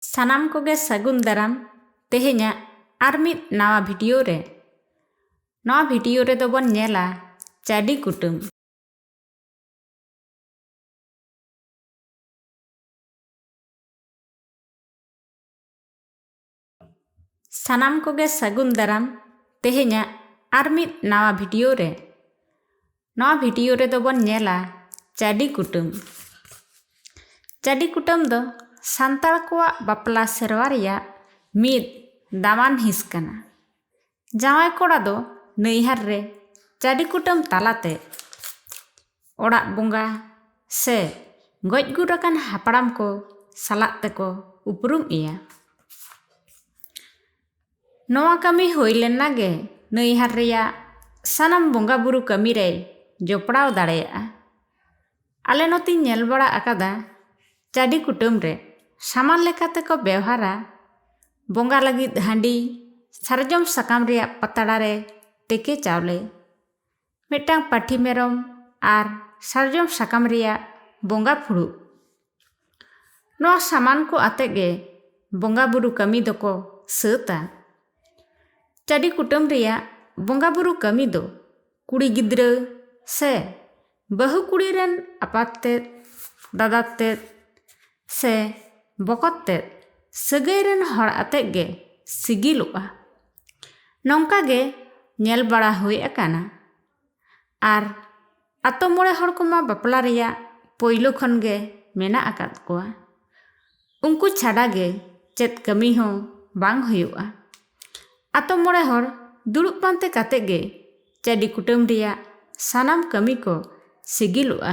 ᱥᱟᱱᱟᱢ ᱠᱚᱜᱮ ᱥᱟᱹᱜᱩᱱ ᱫᱟᱨᱟᱢ ᱛᱮᱦᱮᱧᱟᱜ ᱟᱨ ᱢᱤᱫ ᱱᱟᱣᱟ ᱵᱷᱤᱰᱤᱭᱳ ᱨᱮ ᱱᱚᱣᱟ ᱵᱷᱤᱰᱤᱭᱳ ᱨᱮᱫᱚ ᱵᱚᱱ ᱧᱮᱞᱟ ᱪᱟᱹᱰᱤ ᱠᱩᱴᱟᱹᱢ ᱥᱟᱱᱟᱢ ᱠᱚᱜᱮ ᱥᱟᱹᱜᱩᱱ ᱫᱟᱨᱟᱢ ᱛᱮᱦᱮᱧᱟᱜ ᱟᱨ ᱢᱤᱫ ᱱᱟᱣᱟ ᱵᱷᱤᱰᱤᱭᱳ ᱨᱮ ᱱᱚᱣᱟ ᱵᱷᱤᱰᱤᱭᱳ ᱨᱮᱫᱚ ᱵᱚᱱ ᱧᱮᱞᱟ ᱪᱟᱹᱰᱤ ᱠᱩᱴᱟᱹᱢ ᱪᱟᱹᱰᱤ ᱠᱩᱴᱟᱹᱢ ᱫᱚ ᱥᱟᱱᱛᱟᱲ ᱠᱚᱣᱟᱜ ᱵᱟᱯᱞᱟ ᱥᱮᱨᱣᱟ ᱨᱮᱭᱟᱜ ᱢᱤᱫ ᱫᱟᱢᱟᱱ ᱦᱤᱸᱥ ᱠᱟᱱᱟ ᱡᱟᱶᱟᱭ ᱠᱚᱲᱟ ᱫᱚ ᱱᱟᱹᱭᱦᱟᱨ ᱨᱮ ᱪᱟᱹᱰᱤ ᱠᱩᱴᱟᱹᱢ ᱛᱟᱞᱟᱛᱮ ᱚᱲᱟᱜ ᱵᱚᱸᱜᱟ ᱥᱮ ᱜᱚᱡ ᱜᱩᱨ ᱟᱠᱟᱱ ᱦᱟᱯᱲᱟᱢ ᱠᱚ ᱥᱟᱞᱟᱜ ᱛᱮᱠᱚ ᱩᱯᱨᱩᱢ ᱮᱭᱟ ᱱᱚᱣᱟ ᱠᱟᱹᱢᱤ ᱦᱩᱭ ᱞᱮᱱᱟ ᱜᱮ ᱱᱟᱹᱭᱦᱟᱨ ᱨᱮᱭᱟᱜ ᱥᱟᱱᱟᱢ ᱵᱚᱸᱜᱟ ᱵᱩᱨᱩ ᱠᱟᱹᱢᱤ ᱨᱮᱭ ᱡᱚᱯᱲᱟᱣ ᱫᱟᱲᱮᱭᱟᱜᱼᱟ ᱟᱞᱮ ᱱᱚᱛᱮᱧ ᱧᱮᱞ ᱵᱟᱲᱟ ᱟᱠᱟᱫᱟ ᱪᱟᱹᱰᱤ ᱠᱩᱴᱟᱹᱢ ᱨᱮ ᱥᱟᱢᱟᱱ ᱞᱮᱠᱟ ᱛᱮᱠᱚ ᱵᱮᱣᱦᱟᱨᱟ ᱵᱚᱸᱜᱟ ᱞᱟᱹᱜᱤᱫ ᱦᱟᱺᱰᱤ ᱥᱟᱨᱡᱚᱢ ᱥᱟᱠᱟᱢ ᱨᱮᱭᱟᱜ ᱯᱟᱛᱲᱟ ᱨᱮ ᱛᱮᱠᱮ ᱪᱟᱣᱞᱮ ᱢᱤᱫᱴᱟᱝ ᱯᱟᱹᱴᱷᱤ ᱢᱮᱨᱚᱢ ᱟᱨ ᱥᱟᱨᱡᱚᱢ ᱥᱟᱠᱟᱢ ᱨᱮᱭᱟᱜ ᱵᱚᱸᱜᱟ ᱯᱷᱩᱲᱩᱜ ᱱᱚᱣᱟ ᱥᱟᱢᱟᱱ ᱠᱚ ᱟᱛᱮ ᱜᱮ ᱵᱚᱸᱜᱟ ᱵᱩᱨᱩ ᱠᱟᱹᱢᱤ ᱫᱚᱠᱚ ᱥᱟᱹᱛᱟ ᱪᱟᱹᱰᱤ ᱠᱩᱴᱟᱹᱢ ᱨᱮᱭᱟᱜ ᱵᱚᱸᱜᱟ ᱵᱩᱨᱩ ᱠᱟᱹᱢᱤ ᱫᱚ ᱠᱩᱲᱤ ᱜᱤᱫᱽᱨᱟᱹ ᱥᱮ ᱵᱟᱹᱦᱩ ᱠᱩᱲᱤ ᱨᱮᱱ ᱟᱯᱟᱛ ᱛᱮᱫ ᱫᱟᱫᱟ ᱛᱮᱫ ᱥᱮ ᱵᱚᱠᱚᱛ ᱛᱮᱫ ᱥᱟᱹᱜᱟᱹᱭ ᱨᱮᱱ ᱦᱚᱲ ᱟᱛᱮ ᱜᱮ ᱥᱤᱜᱤᱞᱚᱜᱼᱟ ᱱᱚᱝᱠᱟ ᱜᱮ ᱧᱮᱞ ᱵᱟᱲᱟ ᱦᱩᱭ ᱟᱠᱟᱱᱟ ᱟᱨ ᱟᱛᱳ ᱢᱚᱬᱮ ᱦᱚᱲ ᱠᱚᱢᱟ ᱵᱟᱯᱞᱟ ᱨᱮᱭᱟᱜ ᱯᱳᱭᱞᱳ ᱠᱷᱚᱱ ᱜᱮ ᱢᱮᱱᱟᱜ ᱟᱠᱟᱫ ᱠᱚᱣᱟ ᱩᱱᱠᱩ ᱪᱷᱟᱰᱟ ᱜᱮ ᱪᱮᱫ ᱠᱟᱹᱢᱤ ᱦᱚᱸ ᱵᱟᱝ ᱦᱩᱭᱩᱜᱼᱟ ᱟᱛᱳ ᱢᱚᱬᱮ ᱦᱚᱲ ᱫᱩᱲᱩᱵ ᱯᱟᱱᱛᱮ ᱠᱟᱛᱮ ᱜᱮ ᱪᱟᱹᱰᱤ ᱠᱩᱴᱟᱹᱢ ᱨᱮᱭᱟᱜ ᱥᱟᱱᱟᱢ ᱠᱟᱹᱢᱤ ᱠᱚ ᱥᱤᱜᱤᱞᱚᱜᱼᱟ